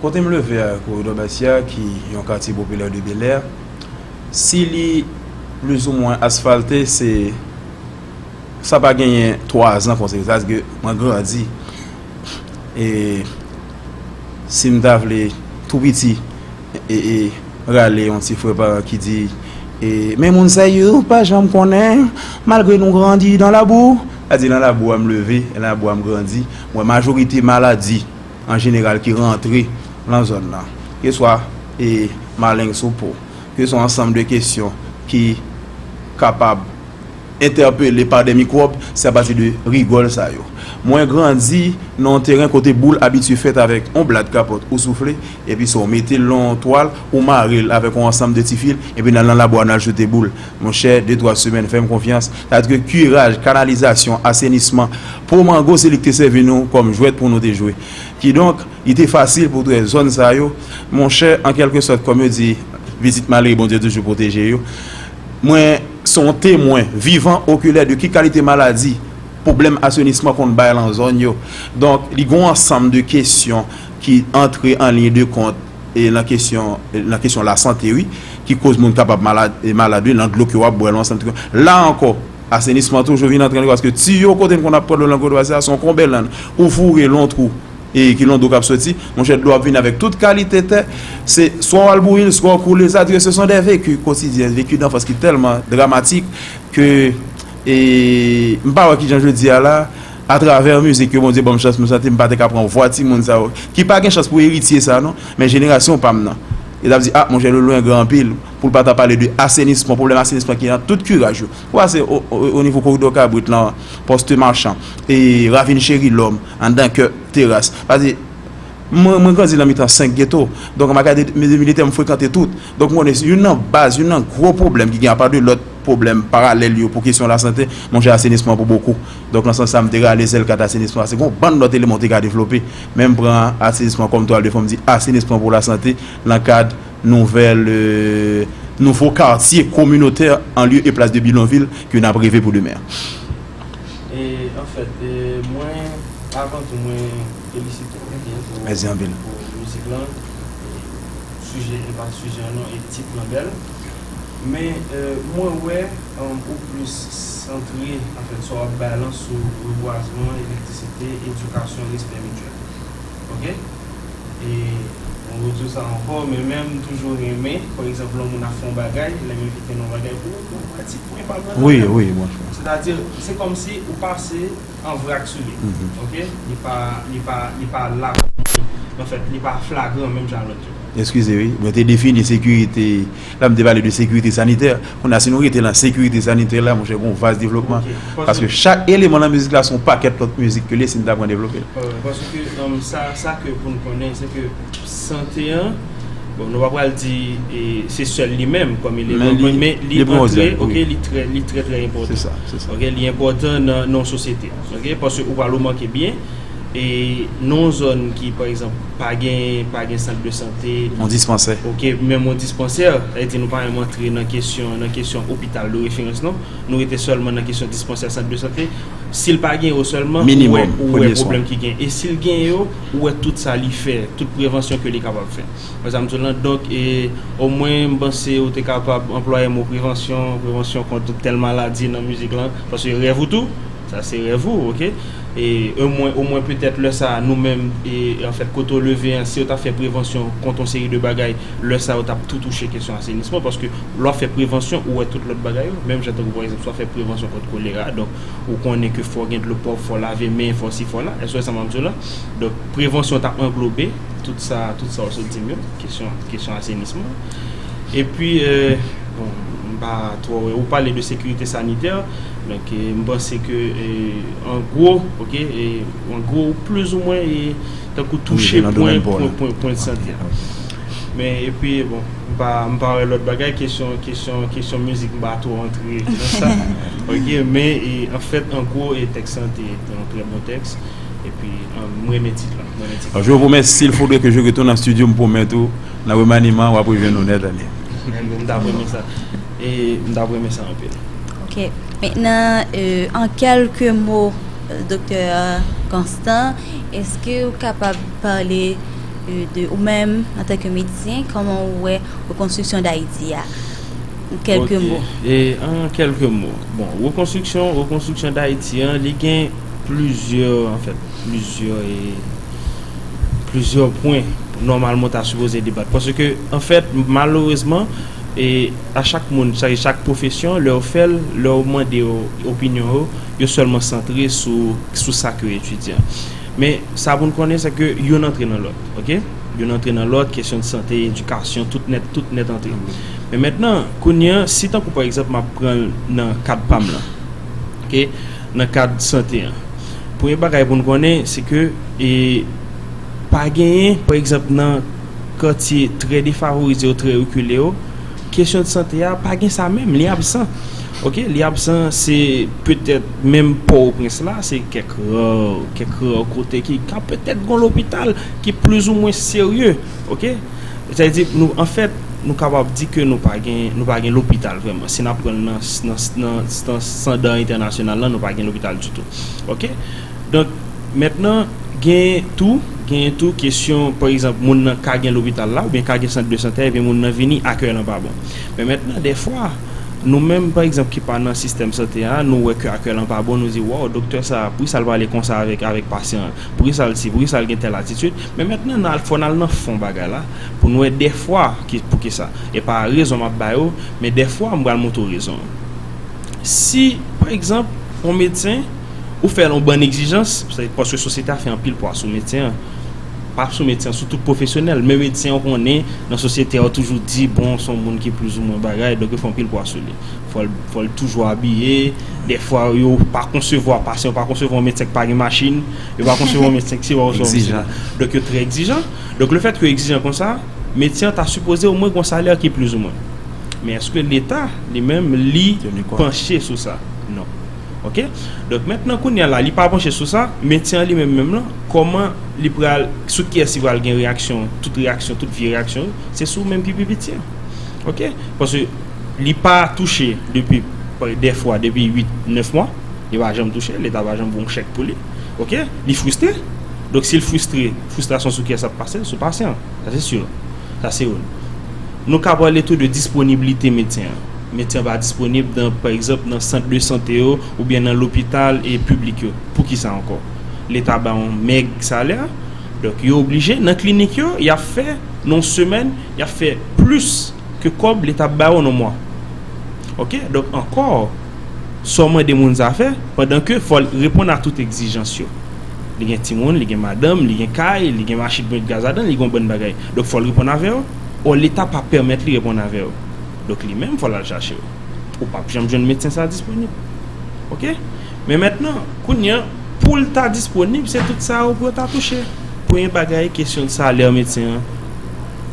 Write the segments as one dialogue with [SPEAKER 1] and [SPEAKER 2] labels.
[SPEAKER 1] Kote m leve a, Koridò Bètyè a, ki yon katye popilè de Belè, si li plizoumwen asfalte, se sa pa genyen twazan konsa, se paske mwen grandi. E si m ta vle tou piti rale yon ti fre paran ki di, Men moun sa yo pa janm konnen, malgre nou grandi dan labou. Sa vle di, nan labou a m leve, nan labou a m grandi, m wè majorite maladi. an jeneral ki rantre lan zòn lan, ke swa e maleng sou po, ke swa ansanm de kesyon ki kapab entèpele pa de mikwòb, se apati de rigòl sa yo. Mwen grandi nan yon teren kote boul abitye fèt avèk yon blad kapòt ou soufle, epi sa w mete l lan yon twal, ou mare l avèk yon ansanm de ti fil, epi n al lan labwa n al joute boul. Monchè, de twa semèn, fè m konfyans, sa vle di ke kiraj, kanalizasyon, asenisman, po mango se li ki te sèvi nou kòm jwèt pou nou te jwe. Kidonk, li te fasil pou trè zòn sa yo, monchè, an kèlke sòt, kòm yo di, pitit malere Bondye toujou pwoteje yo. Mwen se yon temwen vivan, okilè de ki kalite maladi pwoblèm asenisman konn bay lan zòn yo. Donk, li gen yon ansanm de kesyon ki antre an liy de kont. E nan kesyon nan kesyon lasante wi ki koz moun kapab malad e malad wi nan dlo ke wap bwè lan san tro la ankò asenisman toujou vin antre paske tiyo kote n konn ap pran dlo lan Godoy sa son konbèlann ou foure lon trou e ki lon dlo kap soti monchè dlo ap vini avèk tout kalite tè se swa wal bouyi l swa w koule l sa di ke se son dè veki kotidyen veki danfans ki tèlman dramatik ke e m pa wè kijan jodi a la. Atravè mizik yo Bondye banm chans m santi m pa te ka pran vwa timoun sa yo ki pa gen chans pou eritye sa non men jenerasyon pam nan yo tap di ah monchè Lolwen gran anpil poul pa ta pale de asenisman pwoblèm asenisman ki nan tout kiraj yo ou pase o nivo koridò kabrit lan poste machan e ravin cheri lòm anndan kè teras pase mwen mwen grandi nan mitan 5 geto donk ma gade de militè m frekante tout donk m konnen youn nan baz youn nan gwo pwoblèm ki gen apa de lòt pwoblèm paralèl yo pou kesyon lasante monchè asenisman pou bokou. Donk nan sans sa m te rale zèl kat asenisman paske gen yon bann lòt eleman ou te ka devlope men m pran asenisman kòm twal de fon m di asenisman pou lasante nan kad nouvèl nouvo kartye kominotè an lye e plas de bidonvil ke n ap reve pou demen an.
[SPEAKER 2] An fèt mwen avan tou mwen felisite w byen pou mizik lan sijè e pa sijè an non e tit lan bèl men mwen wè. ou plis santre anfèt sa w ap bay lan sou rebwazman, elektrisite, edikasyon, respè mityèl. Ok. E mwen rediw sa ankò, men menm toujou renmen, pa egzanp lè yon moun ap fè yon bagay, lè m envite l yon bagay, pou ou pou ou wè ti pwen pa m nan Wi, wi,
[SPEAKER 1] mwen fè. Sètadi, se
[SPEAKER 2] kòmsi ou pase an vrak sou li. Ok. Li pa, li pa, li pa la kòm anfèt, li pa flagran menm jan lòt yo. Eskize wi, mwen te
[SPEAKER 1] defini sekirite. La m te pale de sekirite sanitè, kounye a si nou rete lan sekirite sanitè la monchè gon vas devlopman paske chak eleman lan mizik la se yon pakèt lòt mizik ke l ye si n ta pran devlope l. Paske
[SPEAKER 2] sa sa ke pou n konnen se ke sante an bon nou pa pral di se sèl li menm kòm eleman men li li antre ok li trè li trè trè enpòtan se sa se sa ok li
[SPEAKER 1] enpòtan
[SPEAKER 2] nan yon sosyete ok paske ou pral remake byen E nan yon zòn ki, pa egzanp, pa gen, pa gen sant de sante. Yon dispansè. Ok,
[SPEAKER 1] menm yon dispansè,
[SPEAKER 2] sa vle di nou pa menm antre nan kesyon, nan kesyon opital de referans non. Nou rete sèlman nan kesyon dispansè, sant de sante. Si l pa gen yo sèlman, ou wè pwoblèm
[SPEAKER 1] ki gen.
[SPEAKER 2] E si l gen yo, ou wè tout sa li fè, tout prevansyon ke li kapab fè. Ou wè sa m di w lan? Donk, e, omwen m panse ou te kapab anplwaye mo prevansyon, prevansyon kont tèl maladi nan mizik lan, paske rèv ou tou. Sa se rèv ou ok o mwen petèt lè sa nou menm anfèt kote ou leve an si yo ta fè prevansyon kont yon seri de bagay lè sa yo tap tou touche kesyon asenisman paske lè wap fè prevansyon ou wè tout lòt bagay yo menm jan tankou pa egzanp si wap fè prevansyon kont kolera donk ou konnen ke fò gen dlo pwòp fò lave men fò si fò la èske w wè sa map di w la donk prevansyon ta anglobe tout sa ou sot di m yo kesyon asenisman. Epi, bon, m pa twò wè, ou pale de sekirite sanitè, donk m panse ke an gwo, ok, an gwo ou plizoumwen e tankou touche pwen, pwen, pwen de sante a. Men, epi, bon, m pa, m pa wè lòt bagay, kesyon, kesyon, kesyon mizik m pa twò antre nan sa, ok, men, e, an fèt, an gwo, e tèks lan te yon trè bon tèks, epi, m renmen tit lan, m renmen tit lan. Je vous remercie, il faudrait que
[SPEAKER 1] je retourne en studio, m pwomèt ou. Nan remaniman wap rejwenn lonè dani. M tap
[SPEAKER 2] renmen sa. M tap renmen sa anpil. Ok men
[SPEAKER 3] nan an kelke mo doktè Constant eske ou kapab pale de ou menm an tanke medisyen koman ou wè rekonstriksyon dayiti a an kelke mo. An kelke
[SPEAKER 2] mo bon rekonstriksyon rekonstriksyon dayiti an li gen plizyè an fèt plizyè e. plizyè pwen nòmalman ta sipoze debat paske anfèt malerezman e a chak moun sa e chak pwofesyon lè yo fèl lè yo mande yo opinyon yo yo sèlman santre sou sou sa ke yo etidye men sa pou nou konnen se ke youn antre nan lòt ok youn antre nan lòt kesyon de sante edikasyon tout nèt tout nèt antre men mètnan kounye an si tankou pa egzanp map pran nan kad pam lan ok. Nan kad sante an, premye bagay pou n konnen se ke pa genyen, pa egzanp nan katye trè defavorize yo, trè rekile yo, kesyon sante a pa gen sa menm, li absan. Oke, li absan, se petèt menm Pò-o-Prens la, se kèk ra, kèk ra kote ki ka petèt gon lopital ki plizoumwen serye. Oke, sa vle di nou anfèt. Nou kapab di ke nou pa gen, nou pa gen lopital vrèman. Si n'ap pran nan, nan, nan standar entènasyonal la, nou pa gen lopital ditou. Ok? Donk, mentnan, genyen tou, genyen tou kesyon, pa egzanp, moun nan ka gen lopital la, oubyen ka gen sant de santè, epi moun nan vini, akèy lan pa bon. Men mentnan, dèfwa, nou menm, pa egzanp, ki pa nan sistèm sante a, nou wè ke akèy lan pa bon, nou di, waw, doktè sa a, poukisa l'pale konsa avèk, avèk pasyan an? Poukisa l si, poukisa l gen tèl atitid, men mentnan n al fò n al nan fon bagay la pou n wè dèfwa ki poukisa. E pa rezon m ap bay ou, men dèfwa m pral montre ou rezon an. Si pa egzanp on medsen ou fè l on bann egzijans, se paske sosyete a fè anpil pwa sou medsen an, pa sou medsen an sou tout pwofesyonèl, men medsen ou konnen nan sosyete a yo toujou di bon s on moun ki plizoumwen bagay donk yo fè anpil pwa sou li. Fò l toujou abiye. Dèfwa yo pa konsevwa pasyan, yo pa konsevwa yon medsen ki pa gen machin, yo pa konsevwa yon medsen ki si pa oswa osila. Donk yo trè egzijan. Donk le fèt ke yo egzijan konsa, medsen an ta sipoze omwen gon salè ki plizoumwen. Men eske leta li menm li panche sou sa? Non. Ok. Donk mentnan kounye a la li pa panche sou sa, medsen an li menm menm lan, kòman li pral, sou kiyès li pral gen reyaksyon, tout reyaksyon, tout vye reyaksyon yo, se sou menm ki pi piti an. Ok. Paske. Li pa touche depi dè fwa depi 8, 9 mwa, li pa janm touche, leta pa janm voye yon chèk pou li, ok, li fristre, donk si l fristre, fristrasyon sou kiyès l ap pase l, sou pasyan an, sa se sur, sa se youn. Nou ka pale tou de disponiblite medsen an, medsen an pa disponib nan pa egzanp nan sant de sante yo oubyen nan lopital e piblik yo, pou ki sa ankò? Leta ba yon mèg salè, donk yo oblije nan klinik yo y ap fè nan yon semèn y ap fè plis. ke kob li tap bayo non mwa ok donk ankò so mande moun sa fè pandan ke fol reponn a tout egzijans yo li gen timoun li gen madanm li gen kay li gen machin pou met gaz ladan li gen yon bann bagay donk fol reponn avè yo o leta pa pèmèt li reponn avè yo donk li menm fol al chache yo ou pap janm jwenn medsen sa disponib ok men mentnan kounya poul ta disponib se tout sa yo pou yo ta touche premye bagay kesyon salè medsen an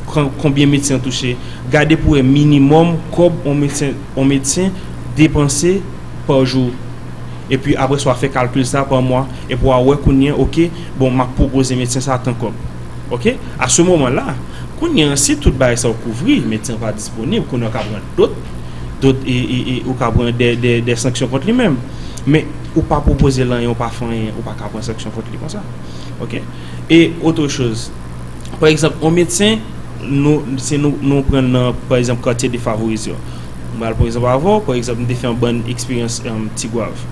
[SPEAKER 2] konbyen medsen an touche, gade pou wè minimòm kòb yon medsen depanse pa jou. Epi apre sa w a fè kalkil sa pa mwa, epi w a wè kounye an ok, bon m ap pwopoze medsen sa a tan kòb. Ok, a se moman la, kounye an si tout bagay sa yo kouvri, medsen an pa disponib, kounye an w ka pran dot, dot e, e, e, ou ka pran dè, dè, dè sanksyon kont li menm. Men, ou pa pwopoze l anyen, ou pa fè anyen, ou pa ka pran sanksyon kont li konsa. Ok? E, otre choz. pa egzanp yon medsen nou se nou nou pran nan pa egzanp katye defavorize yo m pral pran egzanp avè w pa egzanp m te fè yon bann eksperyans tigwav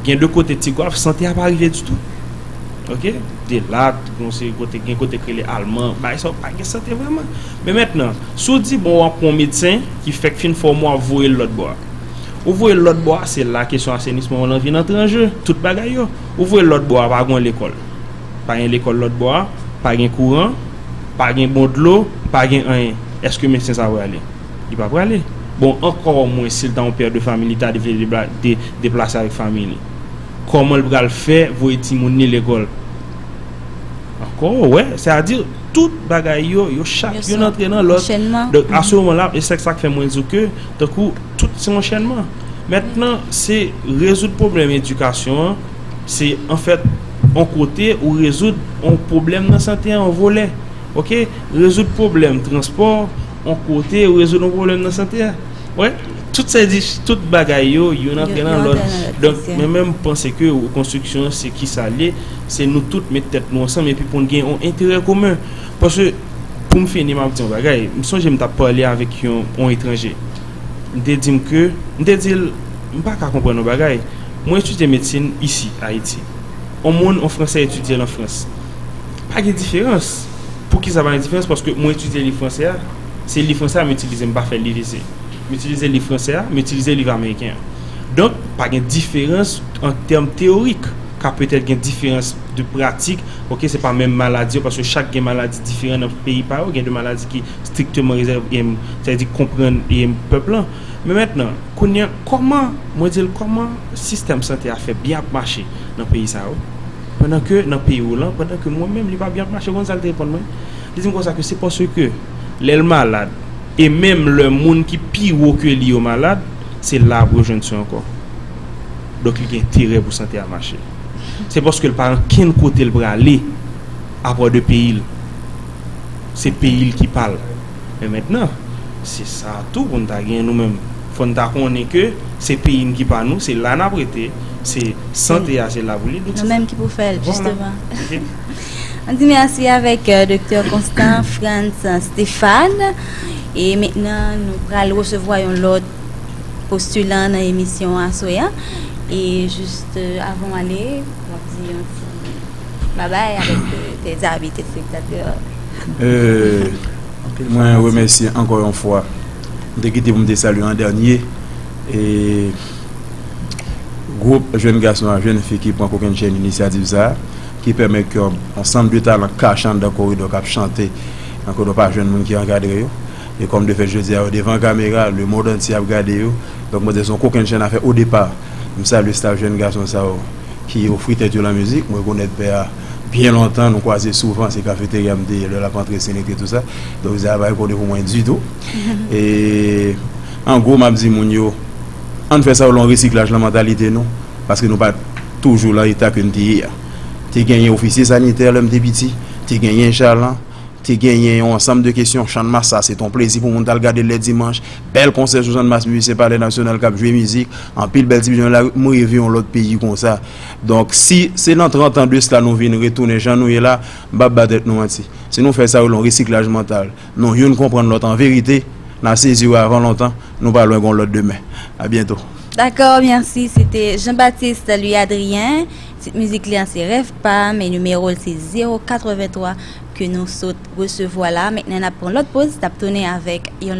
[SPEAKER 2] gen de kote tigwav sante a pa rive ditou ok de lat yon seri kote gen kote ki rele alman bagay sa yo pa gen sante vreman men mètnan si w di bon w ap pran yon medsen ki fèk fin fòme w ap voye l lòtbò a ou voye l lòtbò a se la kesyon asenisman w lan vin antre an je tout bagay yo ou voye l lòtbò a pa gen yon lekòl Pa gen lekòl lòt bò a, pa gen kouran, pa gen bon dlo, pa gen anyen. Èske medsen sa prale? Li pa prale. Bon, ankò mwen si l ta yon pè de fami li ta vle deplase avèk fami li. Kòman l pral fè voye timoun li lekòl? Ankò ou wè, sè a di tout bagay yo, yo chak youn antre nan lòt. Donk a se moman la, e se sa k fè mwen di w ke tankou. Tout se yon chènman. Mentnan se rezoud pwoblèm edikasyon an, se anfèt yon kote ou rezoud yon pwoblèm nan sante an yon volè. Ok, rezoud pwoblèm transpò yon kote ou rezoud yon pwoblèm nan sante a. Wè, tout se di, tout bagay yo, youn antre nan lòt. Donk, mwen menm panse ke rekonstriksyon se ki sa l ye, se nou tout met tèt nou ansanm epi pou n gen yon enterè komen. Paske. Pou m fini, m ap di yon bagay. M sonje m t ap pale avèk yon etranje. M te di m ke, m te di l, m pa ka konprann yon bagay. Mwen etidye medsin isi, Ayiti. On moun, on Fransè etidye l an Frans. Pa gen diferans. Poukisa pa gen diferans? Paske mwen etidye liv fransè a, se liv fransè a m itilize, m pa fè liv isi. M itilize liv fransè a, m itilize liv ameriken an. Donk, pa gen diferans an tèm teyorik. ka petèt gen diferans de pratik ok se pa menm maladi yo paske chak gen maladi diferan nan peyi pa yo gen de maladi ki strikteman rezève em sa vle di konprann em pèp lan men mentnan kounye a kòman mwen di l kòman sistèm sante a fè byen ap mache nan peyi sa yo pandan ke nan peyi ou lan pandan ke mwen menm li pa byen ap mache ou konn sa l te reponn mwen li di m konsa ke se paske lè l malad e menm lè moun ki pi wo ke li yo malad se la pou yo jwenn swen ankò. Donk li gen enterè pou sante a mache. Se paske l pa gen kenn kote l prale apa de peyi l. Se peyi l ki pa l. Men mentnan, se sa tou pou n ta gen nou menm. Fò n ta konnen ke se peyi n ki pa nou, se la n ap rete, se sante a se la pou li. Nou menm ki pou fè l,
[SPEAKER 3] jisteman. An di mèsi avèk Doktè Constant Frantz Stéphane. E mentnan nou pral resevwa yon lòt. postulan nan emisyon aswè a e just avan w ale wap di yon ti babay avèk tes avi telespektatè.
[SPEAKER 1] Mwen remèsye ankò yon fwa m te kite pou m te salye an dènye e gwoup jèn gason ak jèn fi ki pran kokenn chèn inisyativ sa ki pèmèt ke yon ansanm de talan kach anndan koridò kap chante nan koridò pa jwenn moun ki ankadre yo. E kòm de fèt jodi a yo devan kamera, le mond antye ap gade yo, donk mwen di se yon kokennchenn afè o depa. M salye staf jenn gason sa yo ki ofri tèt yo lan mizik. M rekonèt pè a byen lontan, nou kwaze souvan, se kafeterya m te ye lè l ap antre sen lekri tou sa. Donk sa a pa enkoni pou mwen ditou. E an gwo m ap di moun yo ann fè sa yo lan yon resiklaj lan mantalite nou paske nou pa toujou lan eta ke n te ye a. Te genyen ofisye sanitè lè m te piti, te genyen chalan. Te genyen yon ansanm de kesyon Channmas sa se t on plezi pou moun t al gade l lè dimanch Bèl konsè sou Channmas mizisyen Palè Nasyonal k ap jwe mizik Anpil bèl ti bgy nan lari M reve yon lòt peyi konsa Donk si se nan trantan de sla nou vin retounen jan nou ye la M p ap ba tèt nou manti Si nou fè sa yo rele yon resiklaj mantal Nou youn konprann lòt an verite N a sezi wè avan lontan Nou pa lwen gon lòt demen Abyento. Dakò,
[SPEAKER 3] mèsi. Se te Jean-Baptiste Louis Adrien. Tit mizik li a se Rèv pam e nimewo l se 083 ke nou sot resevwa la. Mentnan n ap pran lòt poz, n ap tounen avèk yon.